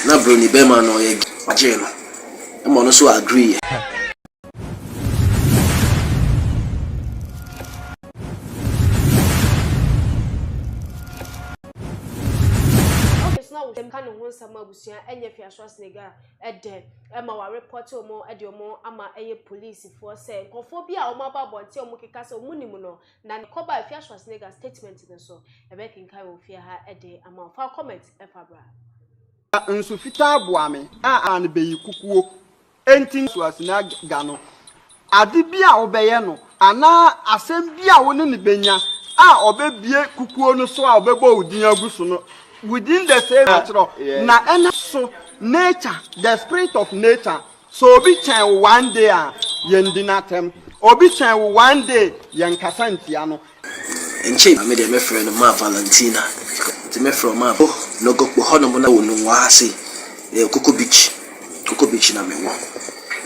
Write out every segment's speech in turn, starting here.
Na broni bɛɛma no ɔyɛ gyee no ɛma ɔno nso agree yɛ. ka ne ho nsɛm abusua ɛnyɛ fiaso asenega ɛdɛ ɛma wɔarepɔte wɔn ɛde wɔn ama ɛyɛ polisifoɔ sɛ nkurɔfoɔ bi a wɔn aba abɔnten wɔn keka sɛ wɔn nim no Na ne kɔba ɛfia Schwarzenegger statement no nso yɛbɛkenkan wɔ fie ha de ama wo. Fa wo comment fa bra. Na nsu fitaa boa me a ano bɛyi kukuo. Enti na Schwarzenegger no, ade bi a wobɛyɛ no anaa asɛm bi a wo ne no bɛnya a ɔbɛbue kukuo no so a ɔbɛbɔ wo din agu so no within the same, na ɛnam so nature, the spirit of nature, So obi kyɛn wo one day a yɛndi no atɛm? Obi kyɛn wo one day yɛnkasa ntia no? Nkyɛ Maame deɛ mɛfrɛ no Ma Valentina Nti mɛfrɛ wo Ma Wɔ Nogokpo hɔnom na wɔ Nungua ha sei Ɛyɛ Koko Beach Koko Beach na mewɔ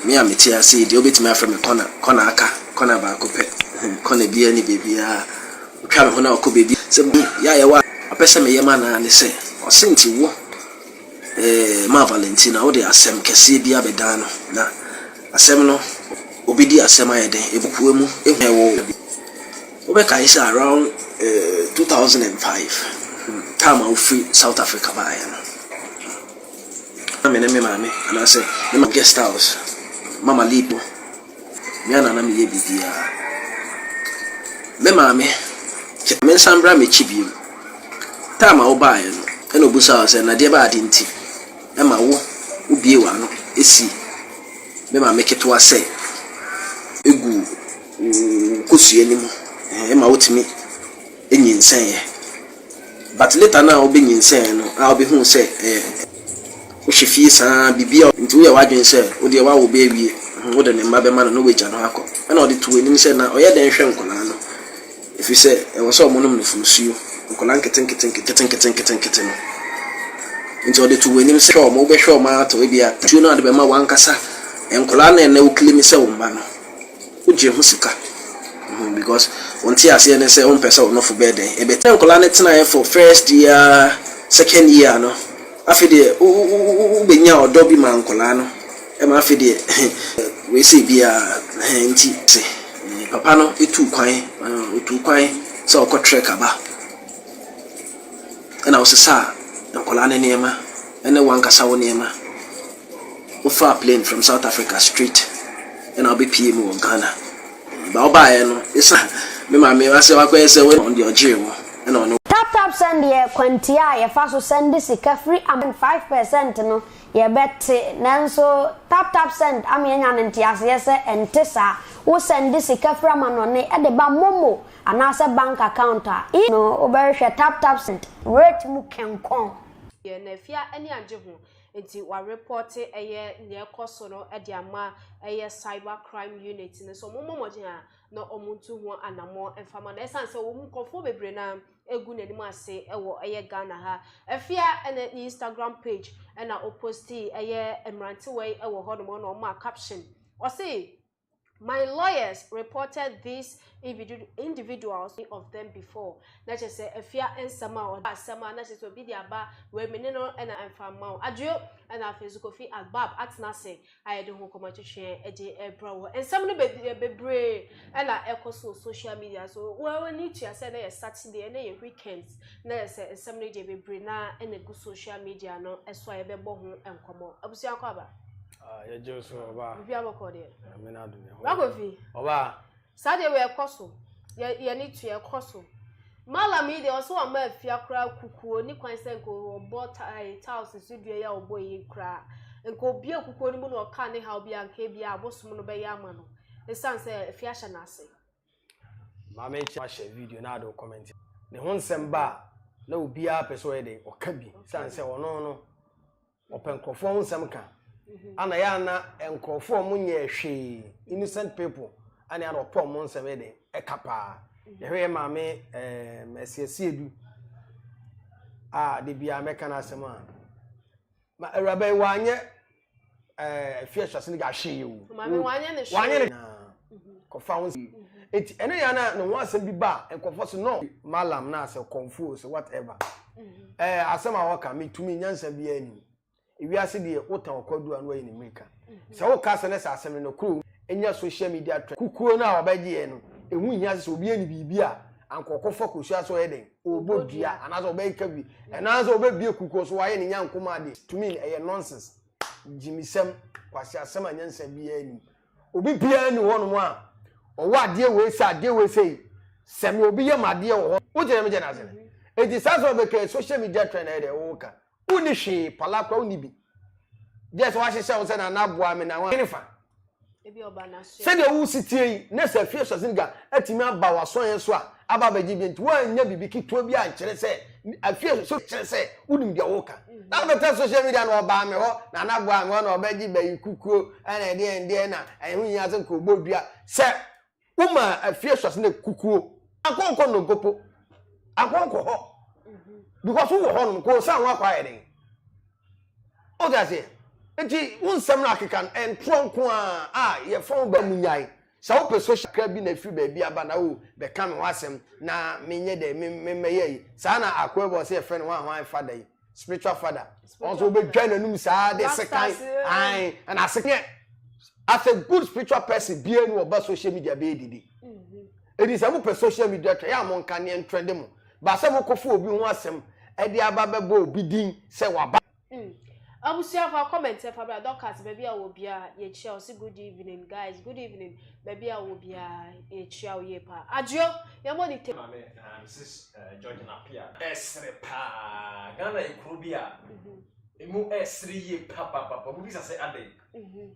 Me a mete ha sei deɛ wobɛtumi afrɛ me Kɔna Kɔna aka Kɔna baako pɛ hmm Kɔna biara ni baabiara Wotwa me ho na wokɔ baabi a Sɛ me yɛ a yɛwɔ a Ɔpɛ sɛ meyɛ ma no ara ne sɛ Ɔse nti wo Ɛmaa Valentina wode asɛm kɛseɛ bi abɛdan no, na asɛm no, ɔbɛdi asɛm ayɛ dɛn? Ɛbɛpue mu, ehu a ɛwɔ hɔ. Wobɛkae sɛ around two thousand and five, time a wofiri South Africa baeɛ no, na me ne me maame anaasɛ me maame guest house, Mama Lip no. Me ara na na meyɛ biribiara. Me maame, kyɛ mensan mmra m'akyi bio. Time a wobaeɛ no, ɛna ɔbisaa wo sɛ, Nadeɛ ba adeɛ nti ma wo wobue w'ano si me maame ketewa sɛ gu wo kosua no mu, ɛma wotumi nyinsɛneeɛ? But later no a wo bɛ nyinsɛn no a wo bɛ huu sɛ ɛyɛ wo hyɛ fie saa biribi a nti wo yɛ w'adwene sɛ wo deɛ w'awo bɛ awie wo de ne mma bɛ ma no na w'agya no akɔ ɛna ɔde to w'anim sɛ na ɔyɛ dɛn hwɛ nkwadaa no ɛfiri sɛ ɛwɔ sɛ ɔmo nom nufosuo nkwadaa nketenketenketenketenketenkete no nti ɔde to w'anim sɛ hwɛ ɔmo wo bɛ hwɛ ɔmo ara tɔ ebia tuo no a de bɛ ma w'ankasa nkwadaa no a ɛnɛ wo claim sɛ wo mma no. Wogye ho sika mm because wo nteaseɛ ne sɛ wompɛ sɛ wo nofo bɛyɛ dɛn ɛbɛ sɛ nkwadaa no tenaeɛ for first year second year no afei deɛ wo wo wo wo wobɛnya ɔdɔ bi maa nkwadaa no ɛma afei deɛ ɛhɛn wei sei biara ɛhɛn nti se mm papa no tuu kwan mm ɔtuu kwan sɛ ɔkɔ trek aba ɛna wosesaa nkwadaa no nneɛma ɛne wankasa wo nneɛma. Wofaa plane from South Africa straight ɛna wobɛpie mu wɔ Ghana. Ba wobaeɛ no, ɛsan me maame asɛ wakɔyɛ sɛ wei ɔno deɛ ɔgyee wo ɛna ɔne wo. Tap tap send yɛ kwantia a yɛfa so sɛnde sika firi Amazon five percent no yɛbɛte nanso tap tap send ama yɛanya no nteaseɛ sɛ ɛnte saa wo sɛnde sika firi amanɔne de ba momo anaasɛ bank account a i no wobɛhwehwɛ tap tap send rate mu kɛnkɔn. Yɛn afie ani agye ho. Enti wɔarepɔɔte ɛyɛ nea ɛkɔ so no de ama ɛyɛ cyber crime unit no sɛ wɔmmɔ mmɔden a na wɔntu ho anammɔn mfa ma no ɛsiane sɛ wɔn mu nkurɔfoɔ bebree no ara agu n'anim ase wɔ ɛyɛ Ghana ha. Afia ne ne Instagram page na ɔpostii ɛyɛ mmerantewa yi wɔ hɔnom na ɔmaa caption. Ɔse My lawyers reported these individuals to me of them before, na kyerɛ sɛ afia nsɛm a ɔde ba asɛm a na kyerɛ sɛ obi de aba wei me ne no na ɛmfa mma wo adwo ɛna afei nso kofi agbab atena ase a yɛde ho kɔma twetweɛ de ɛbrɛ wɔ nsɛm no bebree ɛna ɛkɔ so social media so wɔn ani tua sɛ na yɛ saturday ɛna yɛ weekend na yɛ sɛ nsɛm no deɛ bebree na ɛna gu social media no ɛso a yɛbɛbɔ ho nkɔmɔ abusua kɔ aba. Ah, yɛ gye so ɔbaa. Bibi abɔkɔ deɛ. Ɛmi na do ne ho. Wakofi. Ɔbaa. Saa deɛ wɛ kɔ so. Yɛ yɛ ne tu yɛ kɔ so. Malam yi deɛ ɔsɛ wama afia koraa kukuo ne kwan sɛ nka ɔbɔ tae tiles so dua yɛ ɔbɔ yi koraa. Nka obie kukuo no mu na ɔka ne haw bi a nka ebi a abosom no bɛyɛ ama no. Esan sɛ afia hyɛ n'ase. Maame kyɛ ahyɛ video na ado comment. Ne ho nsɛm ba na obiara pɛ sɛ ɔyɛ de ɔka bi. San sɛ ɔno no Wɔpɛ nkurɔfoɔ ho nsɛm ka ana yɛ ana nkurɔfoɔ ɔmo nyɛ hwee innocent people ana ana ɔpɛ ɔmo nsɛm yɛ den ɛka paa mhm. yɛhwɛ yɛ maame ɛɛm ɛsiesie du a de bia mɛka n'asɛm a ma awuraba yi wanyɛ ɛɛ eh, fie ɛhyɛse ne gya hwee o wanyɛ ne hwee. kɔfa ho nsɛm eti ɛne yɛn na ne ho asɛm bi ba a nkɔfɔ so no malam na asɛ kɔnfuo sɛ whatever ɛɛ asɛm a wɔka mi tumi nyansa bi anim ewiase deɛ wotan ɔkɔdu a no ayɛ ne mmirika sɛ woka sɛ ne sɛ asɛm no kuro enya social media trend kukuo no a wɔbɛgye yɛ no ehu hia sɛ obi ani biribi a ankɔkɔfɔ kosua so ɔyɛ den ɔbɔ dua anaasɛ ɔbɛyɛ ka bi ɛnaasɛ ɔbɛbie kukuo so wɔayɛ ne nyanko mu adeɛ tumi ɛyɛ nonsense gyimisɛm kwasi asɛm a nyansa bi anim. Obi biara ni hɔ nom a ɔwɔ adeɛ wei sɛ adeɛ wei sɛ yi sɛ me obi yɛ ma adeɛ wɔ hɔ wo gyina me gyina ase no eti saa sɛ ɔbɛka social media trend ayɛ deɛ wo ka wo ni hwee pala kora wo ni bi gyɛ sɛ wahyehyɛ wo sɛ na na boa me na wa ne fa sɛdeɛ wo si tie yi ne sɛ fie sɔsiniga atumi aba w'asɔn yɛn so a aba abɛgye bi nti woannya biribi ketewa bi ankyerɛ sɛ afie nso so kyerɛ sɛ wonim deɛ woka na afɛtɛ social media na ɔbaa me hɔ na anaboa me hɔ na ɔbɛgye bayi kukuo ɛna ɛdeɛ ɛdeɛ na ɛho nyinaa sɛ nkɔbɔ dua sɛ woma afie sɔse na kukuo akɔnkɔ nnompopo akɔnkɔ hɔ because wowɔ hɔ nom kɔɔ san ho akɔ ayɛ den wote aseɛ nti wo nsɛm no akeka ntorɔ nko a a yɛfa wo ba mu nyae Sɛ wopɛ social kakra bi na afiri baabi aba na o bɛka me ho asɛm na menyɛ dɛ me me mɛyɛ yi saa na akoa bi wɔ sɛ yɛfrɛ no hwan hwan fada yi spiritual father wɔn nso wobɛdwa n'anum saa de sekan an ɛna asekan as a good spiritual person bia ni wɔba social media bɛyɛ didi ɛdi sɛ mopɛ social media trɛ yɛ a monka neɛ ntrɛde mo baasɛ mokɔfo obi ho asɛm ɛde aba bɛbɔ obi din sɛ waba Hmm. Abusuafo a comment ɛfa bra Dorcas baabi a wɔ biara yɛkyia ɔsi good evening guys good evening baabi a wɔ biara yɛkyia wo yie paa adwo yɛn mo ni te. Maame na Mrs eh, George na Pia ɛsere paa Ghana ekuro bi a mhm. emu ɛsere yie papapapa mo bisa sɛ adɛn. Mhm.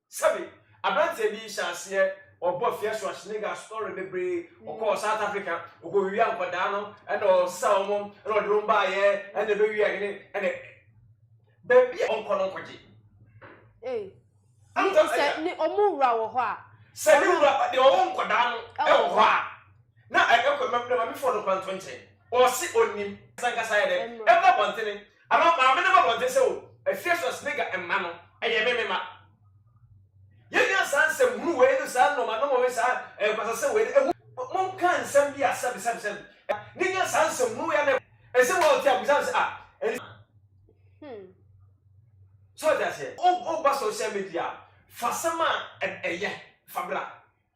Sɛbe, aberanteɛ bi hyɛ aseɛ ɔbɔ fiasua sneaker story bebree ɔkɔɔ south africa ɔkɔwia nkwadaa no ɛna ɔsa wɔn ɛna ɔde wɔn baayɛ ɛna ɛbɛwia hene ɛna baabi a ɔnkɔ no nkɔgye sɛ ne ɔmo wura wɔ hɔ a sɛ ne wura deɛ ɔwɔ nkwadaa no ɛwɔ hɔ a na ɛkɔ mɛmɛmɛfoɔ no kwanto nkyɛn ɔse ɔnim sankasa yɛ dɛ ɛma bɔntene Anaa maame no bɔ mmɔden sɛ, O, afie so asiniga mma no, ɛyɛ me mema. Yɛnnya saa nsɛm hunu wei ne saa nnɔmanɔma wei, saa nkwasasɛm wei no, ɛho. Monka nsɛm bi a sɛbesɛbesɛbe ne nya saa nsɛm hunu wei anaa ɛho. Ɛsɛ bi a ɔte a, bisa no sɛ, Ah, ɛne. So ɔte aseɛ? Woba social media a, fa asɛm a ɛyɛ fa bra.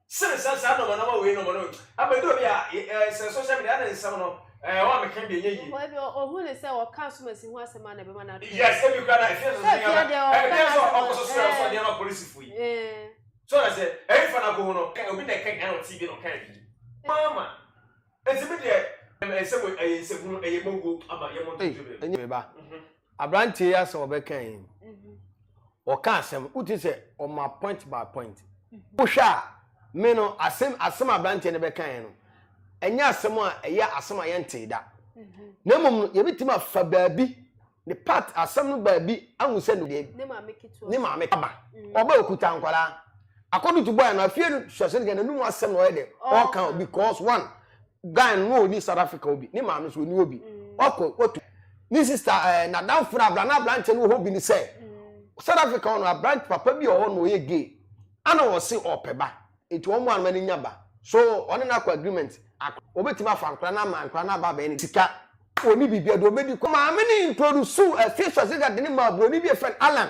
Sene sɛ saa nɔma nɔma wei nɔma no abɛdɔ bi a ɛɛ sɛ social media ne nsɛm no ɛɛ wɔn a meka bi ɛnyɛ yie. Ebi ohun ne sɛ wɔka asomasi ho asɛm a na ɛbɛma no atɔ. Yes ebi kura na efie soso yɛ bɛ ɛbi yɛ sɛ ɔkɔ soso yɛ sɛ ɔdeɛ ma polisifo yi. So na sɛ ɛyi fa na ko ho no obi na ɛka nyina na ɔte bi na ɔka yi. Mama. Enti me deɛ ɛyɛ nsɛm o, ɛyɛ nsɛmhunu, ɛyɛ mogo ama yɛn mo ntoto dwom. Ɛnyɛ me ba, abranteɛ yi asɛm ɔbɛka yi, ɔka asɛm, wote sɛ ɔma point by point. Wohwɛ a, me no asɛm asɛm abranteɛ no bɛka yɛn no, ɛnyɛ asɛm a ɛyɛ asɛm a yɛntee da. Na mmom no, yɛbɛtumi afa baabi Ne part asɛm no baabi ahu sɛ ne deɛ ne maame kaba ɔba okuta nkwadaa according to boy no afie no suasɛ no n'anum asɛm na ɔyɛ dɛ ɔka because one guy no ɔni South Africa obi ne maame so ɔni obi wakɔ watu ne sister ɛɛ eh, n'adanfo no abra na aberanteɛ no wɔ hɔ bi ne sɛ South Africa ɔno aberante papa bi ɔwɔ na ɔyɛ gay ana ɔse ɔpɛ ba Nti wɔn mmoa no ma no nya ba. So ɔne no akɔ agreement? Akora, obetumi afa akora no ama akora no aba abɛyɛ ne sika. Onni biribiara, deɛ obedi kɔ. Maame no introduceu afie sɔsega de no maa buroni bi a yɛfrɛ no Alan.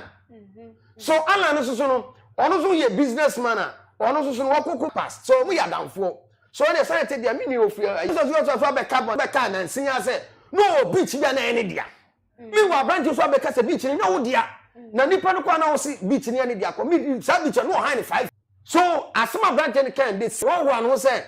So Alan no soso no, ɔno nso yɛ business man a, ɔno nso so no, wɔ koko. Past. So wɔyɛ adamfoɔ. So ɛnneɛ sɛdeɛ ɛte deɛ, me nua ofie ɛyi. Sɔsega ɔsɔfo abɛka bɔ, bɛkaa nansin ara sɛ na ɔwɔ beach bi a na ɛyɛ ne dea. Meanwhile aberanteɛ nso abɛka sɛ beach no nyɛ wo dea na nipa no kɔ a na ɔse beach no yɛ ne dea kɔ me saa beach no ɔhan ne five. So asɛm a aberanteɛ no kae de sɛ wɔhoa ne ho sɛ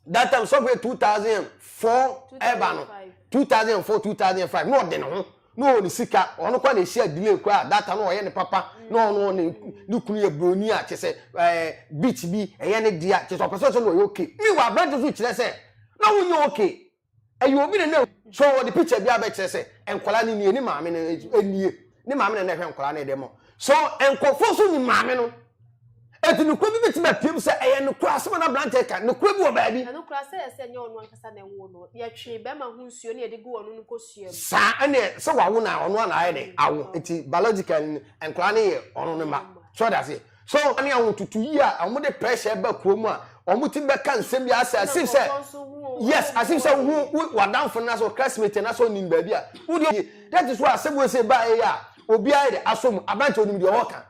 that time sɔfo yɛ two thousand and four ɛba no two thousand and four two thousand and five na ɔde ne ho na ɔwɔ ne sika ɔno kɔ na ehyia delay kɔ a that time na ɔyɛ ne papa na ɔno ne ne kunu yɛ broni a kyɛ sɛ ɛɛ beach bi ɛyɛ ne dea kyɛ sɛ ɔpɛ sɛ ɔsɛ na ɔyɛ okay mi wɔ aberanteɛ nso kyerɛ sɛ na wonyɛ okay. ɛyɛ obi na na so wɔde picture bi abɛkyerɛ sɛ nkwadaa no nie ne maame no nie ne maame na na ɛhwɛ nkwadaa no ɛdɛ mɔ so nkurɔfoɔ nso nim maame no eti nukura bi bɛtumi apiem sɛ ɛyɛ nukura asɛm na aberanteɛ ka nukura bi wɔ baabi. na nukura sɛ ɛsɛ nyɛ ɔno ankasa na ɛwo no yɛtwe bɛrima ho nsuo ne yɛde gu ɔno no kosua mu. saa ɛnna sɛ wawo na ɔno ana ayɛ dɛ awo eti biological nkwadaa no yɛ ɔno no ma so ɔda se. So wɔn ne ahototo yi a wɔde pressure ba kurom a wɔtumi bɛka nsɛm bi asɛ asim sɛ yes asim sɛ wohu w'adanfo no asɛ classmate no asɛ onim baabi a wode yie that is why asɛm wei sɛ baeɛ a obiara de asɔ mu aberante onim deɛ ɔwɔ ka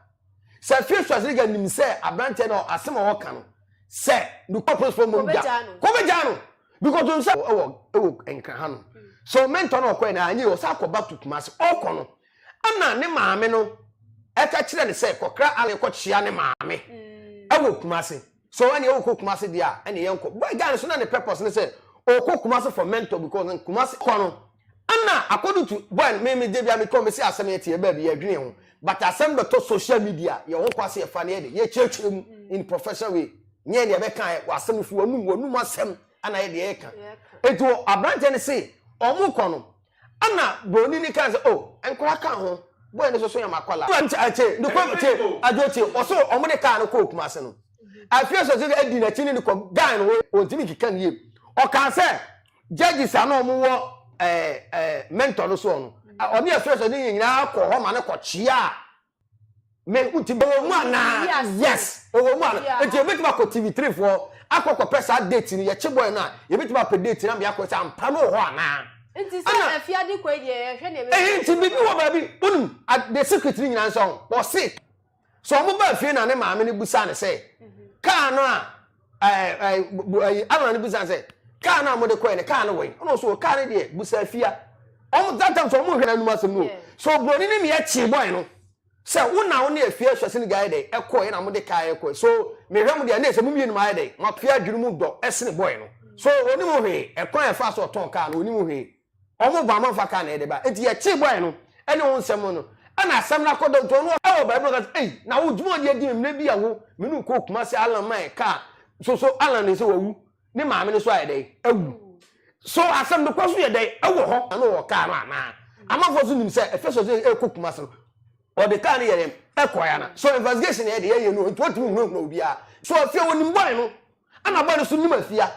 sɛ fie swasiriga nim sɛ aberante no asɛm a ɔwɔ ka no sɛ nukɔ principal mom gya kɔbɛgya no because ɔn sɛ ɛwɔ ɛwɔ nkra ha no so mentor no ɔkɔɛ na anyɛ ɔsɛ akɔ back to Kumasi ɔkɔ no Ɛnna ne maame no ka kyerɛɛ no sɛ, Kɔkra Allen kɔkyea ne maame wɔ Kumasi. So ɛnneɛ wokɔ Kumasi deɛ a, ɛnneɛ yɛnkɔ. Boy guy no so na ne purpose ne sɛ ɔkɔ Kumasi for mentor because in Kumasi kɔ no, ɛnna according to boy no, me me deɛ bia mekɔ mesi asɛm yɛte yɛ baabi yɛdwene yɛn ho but asɛm bɛtɔ social media yɛn ho kɔ ase yɛfa no yɛ de yɛkyerɛkyerɛ mu in professional way nyɛ deɛ bɛka yɛ wɔ asɛm fi wɔnum wɔnum asɛm ɛna yɛ deɛ yɛka nti aberanteɛ no se wɔn kɔ no Ɛna broni ni kaa sɛ, oh, nkwadaa ka ho, boy no soso yɛ ma kwadaa. Ɛna nti akye, ne kɔ kye, adwo kye, ɔso wɔn de kaa no kɔɔ Kumasi no. Afei sɛ sɛ adi n'akyi ne ne kɔ guy no ho, wɔntumi keka ne yie. Ɔkaa sɛ, judges a na wɔn wɔ ɛɛ ɛɛ mentor no soɔ no, ɔne afei sɛ ne yɛn nyinaa kɔɔ hɔ ma no kɔ kyeaa mehu ti bɛwɔ mu anaa yes. yes ɛwɔ mu anaa yeah. nti yɛbɛtumi akɔ tv three foɔ akɔ kɔpɛ saa date no yɛkye bɔyɛ no a yɛbɛtumi apɛ date no ama yɛakɔ sɛ ampa no wɔ hɔ anaa nti sɛ afiade kɔ deɛ yɛhwɛ ne ɛbɛyɛ ɛhɛ nti biribi wɔ baabi wonim the secret no nyinaa nsɛ ɔse sɛ ɔmo ba afie na ne maame no busa ne sɛ mhm. kaa no a alan bisa sɛ kaa no a mode kɔɛ no kaa no wɛn ɔno so kaa no deɛ busa afia ɔmo that time so ɔmo hwɛ n'anum asɛm no so oburoni ne meɛ kye bɔe no sɛ wo na wo ne afia ahwɛ sɛ ne gya ayɛ dɛn ɛkɔɛ na mode kaa ɛkɔɛ so mehwɛ mo deɛ ne sɛ mo mmienu ayɛ dɛn mo afia adwene mu dɔ ɛsene bɔe no so onim hwee ɛkwan ɛfa so ɔtɔn kaa no onim hwee Wɔn ba amanfoɔ aka na yɛde ba. Enti yɛtee bɔeɛ no ne wo nsɛm no, ɛnna asɛm no akɔ dawutoo no wɔ baabi na ɔka sɛ, Ei, na wo dwuma a wode adi me mmerɛ bi a wo me ne wo kɔɔ Kumasi Allan ma yɛkaa so so Allan ne sɛ wawu ne maame no so ayɛ dɛn? Awu. So asɛm no kɔ so yɛ dɛn wɔ hɔ? Na wɔ kaa no anaa? Amanfoɔ nso nim sɛ ɛfɛ sɛ ɔsɛ ɛrekɔ Kumasi no, ɔde kaa no yɛ dɛn ɛkɔeɛ anaa? So investigation na yɛde yɛyɛ no enti wɔntumi nhunahuna obiara. So afei wɔnim bɔe no, ɛnna bɔe no nso nim afie a,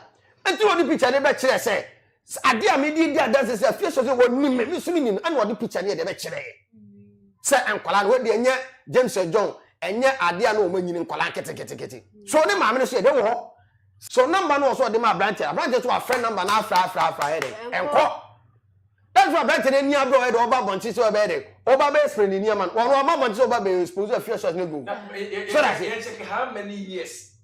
enti na ɔde picture no bɛkyerɛɛ sɛ Sɛ adeɛ a mede di adanse sɛ afie sɔ sɛ wɔnim me, me nso menim no, ɛna ɔde pikya ne adeɛ bɛkyerɛɛ sɛ nkwadaa no. Wei deɛ ɛnyɛ James and John, ɛnyɛ adeɛ a na wɔanyini nkwadaa nketeketekete. So ne maame no nso yɛ dɛn wɔ hɔ? So nɔmba no wɔ so ɔde ma aberanteɛ no, aberanteɛ nso wafrɛ nɔmba no afrɛ afrɛ afrɛ ayɛ dɛn? Ɛnkɔ. That's why aberanteɛ no ani abere ɔyɛ dɛn ɔba abɔnten sɛ ɔbɛyɛ dɛn? Ɔba bɛyɛ spray ne nneɛma no. Wɔn wɔn abɔnten sɛ ɔba bɛyɛ expose afie sɔ ne go. So that's it.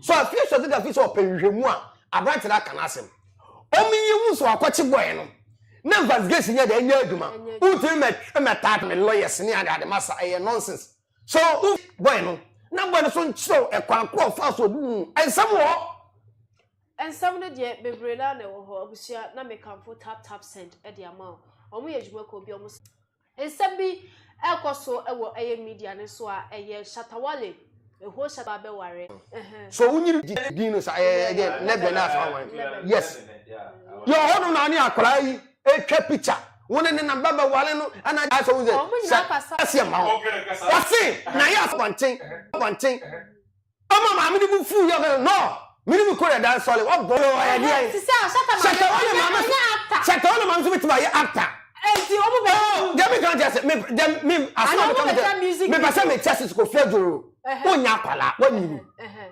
So afei sua sɛdeɛ afei sɛ ɔpɛ nhwehwɛmu a aberanteɛ no aka no asɛm. Wɔn yi hu sɛ wakɔkye bɔɛ no na investigation nyɛ dɛ nyɛ adwuma. Wotumi mɛ mɛ tat me lawyers ne ade ade masa ɛyɛ nonsense. So wo bɔɛ no na bɔɛ no so nkyerɛw ɛkwan korɔ ɔfaa so ɔde hu nsɛm wɔ hɔ. Nsɛm no deɛ bebree no ara na ɛwɔ hɔ abusua na mekamfo tap tap send de ama wo. Wɔn yɛ adwuma kuo bi wɔn. Nsɛm bi ɛrekɔ so wɔ ɛyɛ media no so a ɛyɛ Shatta Wale ɛhɔ Shatta ba bɛware ɛhɛn. So wo nyini gye din no saa ɛɛ ɛdɛ lɛbɛ na saa wɔn yes yɛ ɔhɔ no na ne akwadaa yi ɛtwa picture wo ne ne na ba bɛware no ɛna gya sɛ wo sɛ sɛ ɛsɛ ma wo wɔ se na yɛ asɛ bɔnten bɔnten. Ɔma maame no bo fuw yɛ hɔ no. Me ne me kɔ yɛ dan sɔle wabɔ. Yo ɔyɛ deɛn. Te sɛ ɔhyɛtɛ maame. Hyɛtɛ ɔyɛ maame so. Ɔyɛ actor. Hyɛtɛ ɔyɛ maame so bɛtumi ayɛ actor. Enti ɔmo bɛ hu. Oh deɛ me kan kyɛ sɛ me deɛ me asɛm a me ka me deɛ me pɛ sɛ me kyɛ sisi kofi adwo o nya akwala wa nyini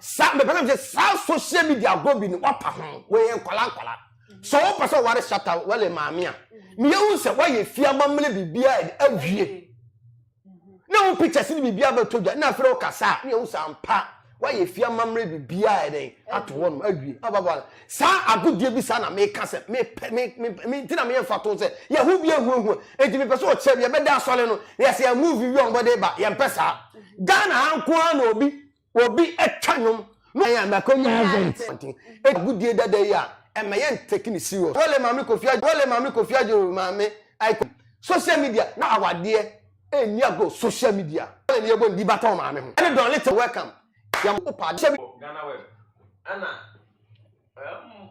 saa me pɛ sɛ me kyɛ saa social media agorɔ bi no wa pa ho wɔ yɛ nkwala nkwala sɛ wo pɛ sɛ ɔware shata wale maame a me yɛ hu sɛ wa yɛ fie amammerɛ biribi a awie. na wo pictures ne biribiara bɛtɔ dwa na afei wokasa a ne yɛhu sɛ ampa woayɛ fie amammerɛ biribiara yɛ dɛn ato hɔ nom awie ababa saa agodeɛ bi saa na meka sɛ mepɛ me me me nti na meyɛ mfa to sɛ yɛho bi ahuahua enti mepɛ sɛ ɔkyerɛ bi yɛbɛda asɔre no na yɛsɛ yɛn move wi a wɔde ba yɛmpɛ saa Ghana ha nko ara na obi Obi twa nnwom no yɛ na kɔ nyinaa dɛ nti nti agudie dada yi a ɛmɛ yɛ ntɛki ne serious wale maame kofi agye wale maame kofi agye maame aiko social media na awadeɛ ɛni agro social media wale ne yɛbɔ ndi batɔ maame ho ɛne dɔn little welcome yam opa adehyɛ bi. Ghana web ɛna ɛm.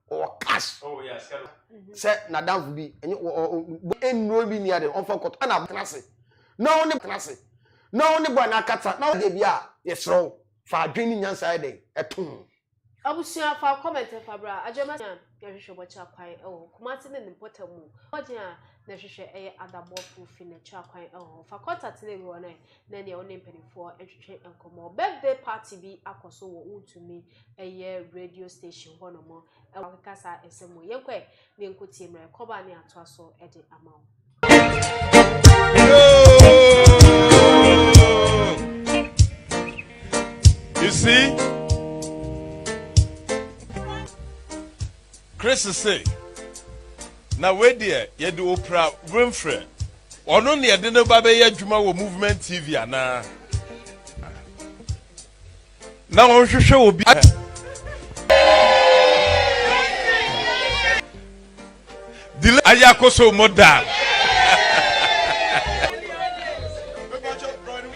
ɔwɔ cash sɛ n'adamfo bi ɛnyɛ ɔwɔ nnuro bi ni ade ɔnfa kɔtɔ ɛna abotena ase na ɔne tena ase na ɔne bɔ ɛna akata na ɔde bi a yɛsrɛ wo fa adwene ne nyansa yɛ dɛn ɛtom. Abusua fa comment fa bra adwemma sua na hwehwɛ bɔkyerɛ kwan ɛwɔ hɔ Kumasi ne ne mpɔtam mu mmɔden a na hwehwɛ ɛyɛ adabɔ full fi na kyerɛ kwan ɛwɔ hɔ fa contact na ɛwɔ hɔ na ne nea ɔne mpanimfoɔ retwetwe nkɔmmɔ. Birthday party bi akɔ so wɔ Wontumi Ɛyɛ radio station hɔnom. Wɔakeka saa asɛm mu. Yɛnkɔ ɛ na yɛnkɔ tie mmerɛ. Kɔba ne atoa so de ama wo. You see, Chris say, na wei deɛ yɛde opra wemfrɛ. Ɔno na yɛde no ba bɛyɛ adwuma wɔ Movement TV anaa? Na wɔnhwehwɛ obi a delay ayɛ akɔ so mo da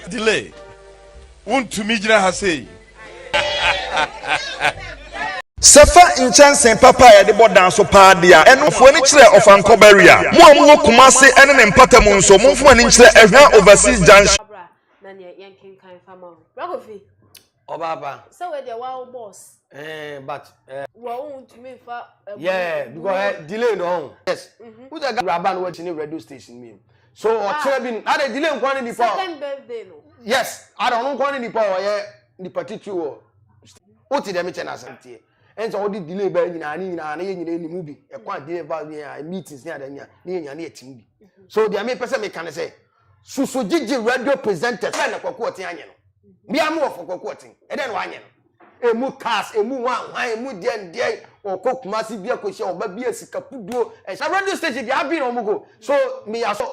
delay wontumi gyina ha sei Sɛ fa nkyɛnsee papa a yɛde bɔ dan so paa de a, ɛno fua ani kyerɛ Ɔfankɔ Barrier. Mo a mowɔ Kumasi ne ne mpatamu nso, momfa mo ani nkyerɛ Ɛhwa Overseas Junction. so ɔkyerɛ bi na de delay nkwa ne nipa second birthday no yes ada ɔno nkwa ne nipa ɔyɛ nipa titiri wɔ wote dɛm kyɛ n'asɛm teɛ ɛn sɛ ɔde delay bɛyɛ nyinaa ne nyinaa ne yɛ nyinaa anim bi ɛkwan delay ba ne yɛ meetings ne ada nyinaa ne yɛ nyinaa ne yɛ tim bi so deɛ mepɛ sɛ meka ne sɛ susu gyigye radio presenters bɛn na kwaku ɔten anyɛ no mmea mo wɔ fɔ kwaku ɔten ɛdɛn na wanyɛ no Emu cars, emu hwanhwan, emu deɛn deɛn, ɔkɔ Kumasi bi akɔhyia ɔba bi a sika puduo, ɛhyɛ radio station deɛ abin wɔn go, so me ya so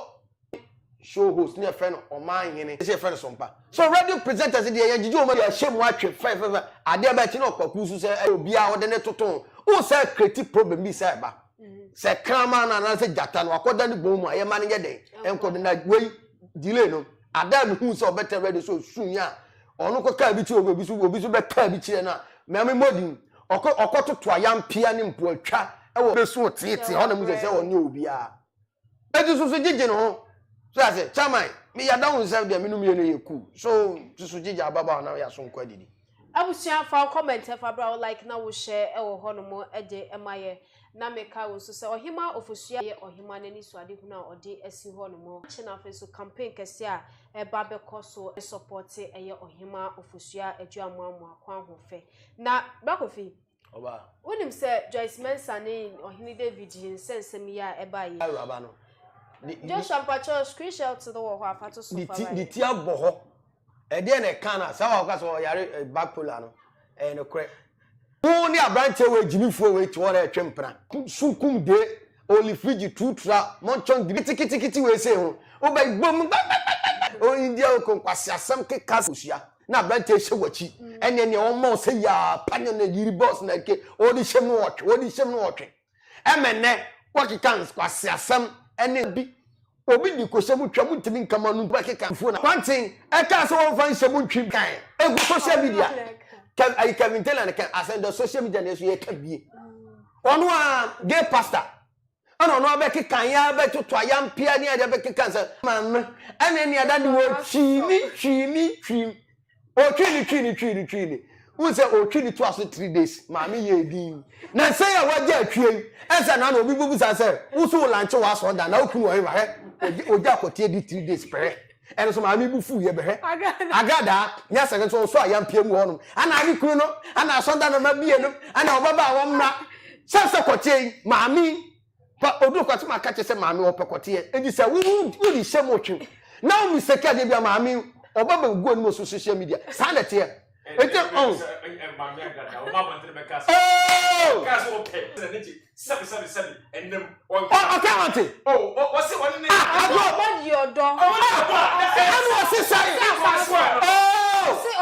show host ne yɛfrɛ no ɔmanhene sɛ yɛfrɛ no sompa, so radio presenters deɛ yɛgyegye wɔn yɛahyɛ mu atwe fɛfɛfɛ, adeɛ bɛɛ akyi na ɔkwaku nso sɛ ɛyɛ obi a ɔde ne toto ho, wohu sɛ create problem bi sɛ ɛba, sɛ kraman no anaasɛ gyata no wakɔda ne bɔn mu a yɛma no yɛ dɛn, ɛnkɔ do, na wei delay no, adaa mehu sɛ ɔbɛtena radio sɛ ɔsuu yɛn a, Ɔno kɔkaa bi kyerɛɛ obi, obi nso obi nso bɛkaa bi kyerɛɛ no a, mea memmɔ din. Ɔkɔ ɔkɔtoto ayampea ne mpoatwa wɔ bɛsu teetee hɔ na mu sɛ sɛ ɔnyɛ obiara. Eti so so gyegye ne ho. So ase, Chairman, me yɛada wo nsɛ deɛ me no mmienu yɛ cool. So so so gyegye ababa hɔ na yɛaso nkɔ adidi. Abusua fa wo comment fa bra wo like na wo share wɔ hɔ nom de ma yɛ Na meka wo nso sɛ, Ɔhemmaa Ɔfosuo a ɛyɛ Ɔhemmaa no anisoadehunu a ɔde asi hɔ no mu. Akyɛ no afei nso campaign kɛseɛ a ɛreba bɛkɔ so supporte ɛyɛ Ɔhemmaa Ɔfosuo a Aduamoamoa Kwanhofɛ. Na Bra Kofi, wonim sɛ Joyce Mensah ne Ɔhene David yi nsɛnsɛm yi a ɛbaeɛ yi. Awuraba no. Joshua mpakyɛw screenshot no wɔ hɔ a fa to so fa ma yɛn. Ne ti abɔ hɔ Ɛdeɛn na ɛka no a saa baako ka sɛ ɔyare eh, bipolar no ɛyɛ nokorɛ. Wo ne aberanteɛ wei gyimifoɔ wei te hɔ na ɛtwe mpena. So kum de oli frigye tuutura mɔnkyɔn diri kitikiti wei sei ho wobɛ bom gbɛgbɛgbɛgbɛ o india oko nkwasi asɛm keka kosua na aberanteɛ hyɛ wakyi ɛneɛ neɛ wɔn ma ɔsɛ yaa panyɔ na yiri bɔs na ke ɔde hyɛm no ɔtwe ɔde hyɛm no ɔtwe Ɛma nnɛ wɔkeka nkwaseasɛm ne bi. Obi de kohyɛ mu twa mu ntumi nka mu a, ɔno bɛkeka afuo no. Kwanten kaa sɛ wɔmfa nhyɛ mu ntwi dan egu social media. Kev, ayi Kevin Taylor na ka asɛm dɛ social media na yɛ so yɛka bie. Ɔno a gay pastor ɛna ɔno abɛkeka yɛ abɛtoto ayampea ne ade abɛkeka sɛ maame ɛna ɛne ada ne wɔ twii mi twii mi twii ɔtwee ne twii ne twii ne twii ne wohu sɛ ɔtwe ne toa so three days maame yɛɛ din na sɛ yɛ wagya atwie yi ɛsɛ na na obi bɛbu saa sɛ wo so wo lanche wɔ asɔre da na wokunu wɔ hema hɛ ogya akɔteɛ di three days pɛrɛ ɛno so maame bu fuu yɛ bɛhwɛ agradaa nyɛ sɛ nso ɔsɔ a yɛmpia mu hɔnom ana ne kunu no ana asɔre da no ma bie no ana ɔbɛba a wɔmmra sɛ sɛ kɔteɛ yi maame Fa oduro kɔ asɛm aka kyerɛ sɛ maame ɔpɛ kɔteɛ edi sɛ wo wo de hyɛ mu otwe na wo mistake adeɛ bi a maame ɔba bɛ gu anim so social media saa na ɛteɛ eti ɔn ɔka wate agro ɛnu ɔsi sɛn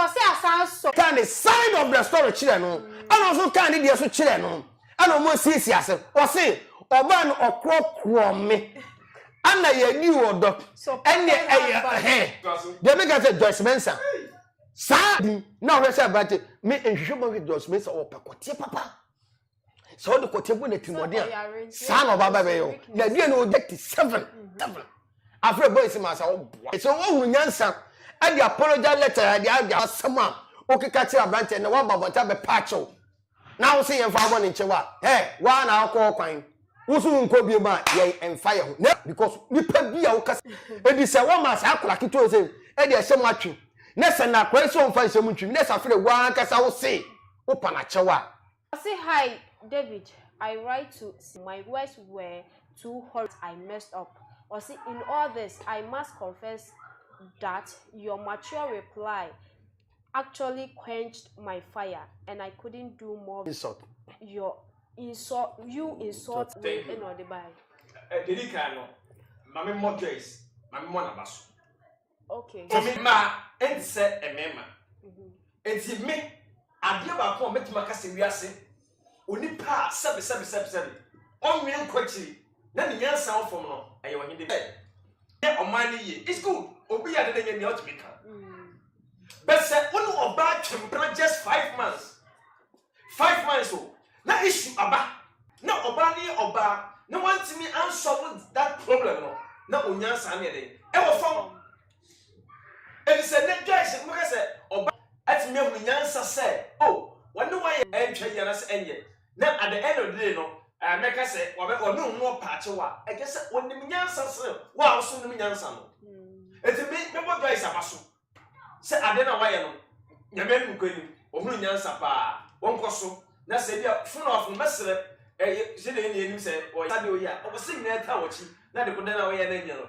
ɔsi asan sɔ kan the side of the story kyerɛ no ɛna ɔso kan ne deɛ so kyerɛ no. ɛna ɔmo asiesie ase ɔse ɔbaa no ɔkorɔkorɔ me ɛna yɛdi ɔdɔ ɛne ɛyɛ ɛhɛ deɛ mi ka sɛ Joyce Mensah saa na ɔhwɛ sɛ aberante me nhwehwɛ mu ahwɛ Joyce Mensah ɔpɛ kɔteɛ papa sɛ ɔde kɔteɛ bɔ n'atirimɔden a saa na ɔbaaba bɛyɛ o na aduane na ɔgya ti seven seven afei bɔ esi maa sa ɔboa sɛ ɔhunu nyansa ɛde apology letter ɛde ɛde asɛm a ɔkeka kyerɛ aberante na waba abɔnten abɛpa akyɛw. na wo se yɛmfa wo bɔne nkyɛ wo a, eh, wo ara na wokɔ hokwan. Wo se wonkɔ biom a, yɛn mfa yɛn ho. Na because nipa bi a woka se edi sɛ wɔma saa akwadaa ketewa yi se ɛde ɛhyɛ mu atwem, na sɛ na akwadaa yi se ɔmfa nhyɛ mu ntwem, na safire wo ara ankasa wo se wopa no akyɛw a. Ɔse hi David I write to se my words were too horrid I messed up Ɔse in all this I must confess that your mature reply actually quenched my fire and I couldn't do more insult your insult you insult me and all the by Didi kan no mame mo Joyce mame mo na baso okay me ma ntse me ma ntse me adeɛ baako a mɛtumi aka sɛ wiase Onipa a sɛbesɛbesɛbesɛbe ɔnnwene nkɔ akyiri na ne nyansa wɔ fam no, ɛyɛ ɔhene Dawid pɛ. Yɛ ɔman no yie. It's good. Obi yɛ ade na nya nea ɔtumi ka. But sɛ wo ne ɔbaa twɛn mpena just five months, five months o, na issue aba na ɔbaa no yɛ ɔbaa na wantumi ansɔbo that problem no, na onyansa no yɛ dɛn? Ɛwɔ fam. Efisɛ nnɛ guys no mobɛka sɛ ɔbaa atumi ahunu nyansa sɛ oh wɔne wo ayɛ ɛntwa yi anaasɛ ɛnyɛ na at the end of the day no mɛka sɛ ɔne wo ho ɔpa akyɛw a ɛkyɛ sɛ ɔnim nyansa sene wo a woso wonim nyansa no ɛti me mɛbɔ Joyce aba so sɛ ade na wayɛ no nyame anim kɔ anim ɔhunu nyansa paa wɔnkɔ so na sɛ bi a funu ɔfo no mɛsrɛ ɛyɛ sɛ deɛ ɛni anim sɛ ɔyɛ sade ɔyɛ a ɔwɔ sɛ nyinaa ta wɔkyi na de kodɛ na ɔyɛ na nyɛ no